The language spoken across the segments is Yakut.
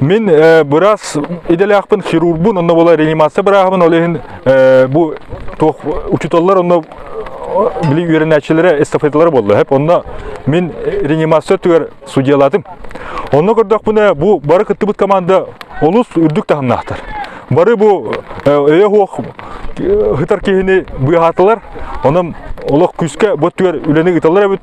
Мин э, бырас идэлээхпин хирургбун, онно бола реанимация бырааһыбын, ол иһин э, бу туох учетоллар онно били үөрэнээччилэрэ эстафеталара болла хэп онно мин реанимация түгэр судьялатым онно көрдөхпүнэ бу бары кыттыбыт команда олус үрдүк таһымнаахтар бары бу өйө хуох хытар киһини быыһаатылар онон олох күүскэ бу түгэр үлэни ыыталлар эбит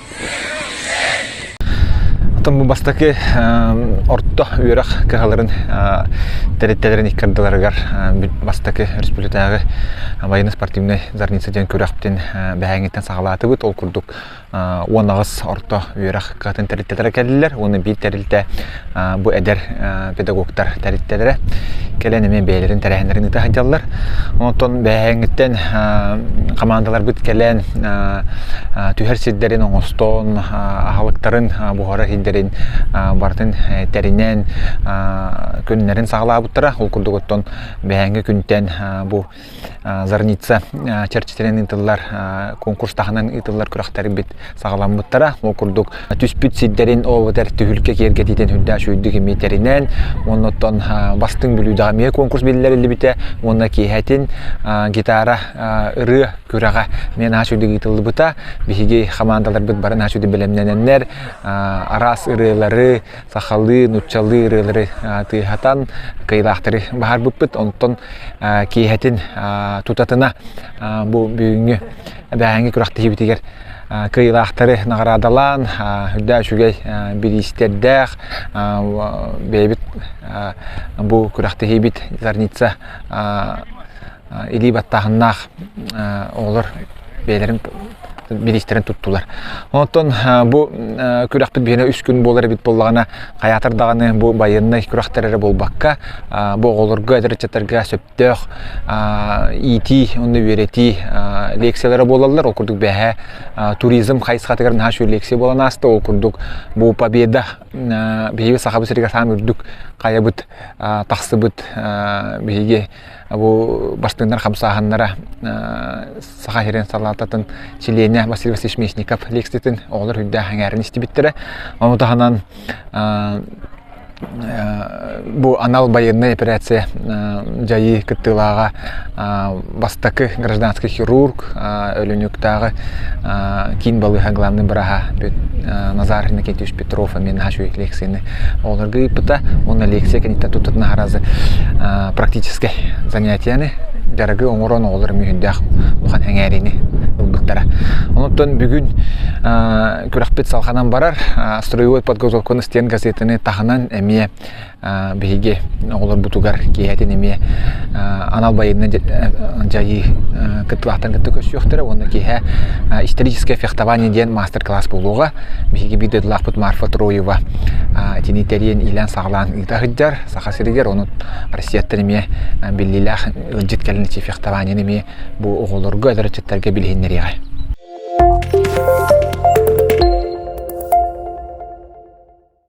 Отон бу бастакы орто үөрэх кыһаларын тэрилтэлэрин икки ардыларыгар бастакы республикатааҕы военно-спортивной зорница диэн күрэхтин бэһээҥиттэн саҕалаатыбыт. Ол курдук уон аҕыс орто үөрэх кыһатын тэрилтэлэрэ кэллилэр уонна биир тэрилтэ Бу эдэр педагогтар тэрилтэлэрэ кэлэн эмиэ бэйэлэрин тэрээһиннэрин ыыта сылдьаллар. Онтон бэһээҥҥиттэн хамаандаларбыт кэлэн түһэр сирдэрин оҥостоон аһылыктарын буһара сирдэрин барытын тэринэн күннэрин саҕалаабыттара. Ол курдук оттон бэһээҥҥи күнтэн бу Зорница чэрчитинэн ыытыллар конкурс таһынан ыытыллар күрэхтэрбит саҕаламмыттара. Ол курдук түспүт сирдэрин оботер түһүлкэ киэргэтиитин үрдээх үйдүк имитэринэн, оннуттан бастыҥ бүлүүдэҕэ эмиэ конкурс биллэриллибитэ уонна киэһэтин гитара ырыа күрэҕэ мен аас үйдүк ыытыллыбыта. Биһиги хамаандаларбыт бары аас үйдү бэлэмнэнэннэр араас ырыалары, сахалыы, нууччалыы ырыалары тыаһатан, кыйылаахтары баһарбыппыт. Онтон киэһэтин тутатына бу бүгүҥҥү эбээһинги күрэхтэһиибитигэр кыйылаахтары наҕараадалаан, үрдээ үчүгэй бириистэрдээх бэйэбит бу күрэхтэһиибит Зарница илии баттааһыннаах оҕолор бэйэлэрин билиистэрин туттулар. Оттон бу күрэхпит биһиэнэ үс күн буолар эбит буоллаҕына, хайаатар даҕаны бу байыаннай күрэхтэр эрэ буолбакка, бу оҕолорго, эдэр ыччаттарга сөптөөх иитии уонна үөрэтии лекциялара буолаллар. Ол курдук бэһээ туризм хайысхатыгар наһаа үчүгэй лекция буолан ааста. Ол курдук бу победа биһиги Сахабыт сиригэр саам үрдүк хайабыт тахсыбыт биһиги бу бастыыннар хамсааһыннара Саха сирин салаататын чилиэнэ Василий Васильевич Мечников лекциятын оҕолор үрдээх эҥээрин истибиттэрэ. Ону таһынан бу анал байыаннай операция дьайыы кыттыылааҕа бастакы гражданский хирург, Өлөнүктааҕы киин балыыһа главный быраһа Назар Иннокентьевич Трофамин наһаа үчүгэй лекцияны оҕолорго ыыппыта. Уонна лекция кэнниттэн туттар наһааразы практическай занятияны дьарыгы оҥорон оҕолор эмиэ үрдээх улахан эҥээриини ылбыттара. Онуттан бүгүн күрэхпит салҕанан барар. Строевой подготовканы стен газетаны таһынан эмиэ биһиги оҕолорбутугар киэһэтин эмиэ анал байыаннай дьайыы кыттылаахтарын кытта көрсүөхтэрэ уонна киэһэ историческое фехтование диэн маастер-класс буолуоҕа. Биһиги биир дойдулаахпыт Марфа Троева итини тэрийэн иилээн-саҕалаан ыыта сылдьар. Саха сиригэр ону Россияттан эмиэ биллиилээх ыалдьыт кэлэн эчи фехтованиены эмиэ бу оҕолорго, эдэр ыччаттарга билиһиннэриэҕэ.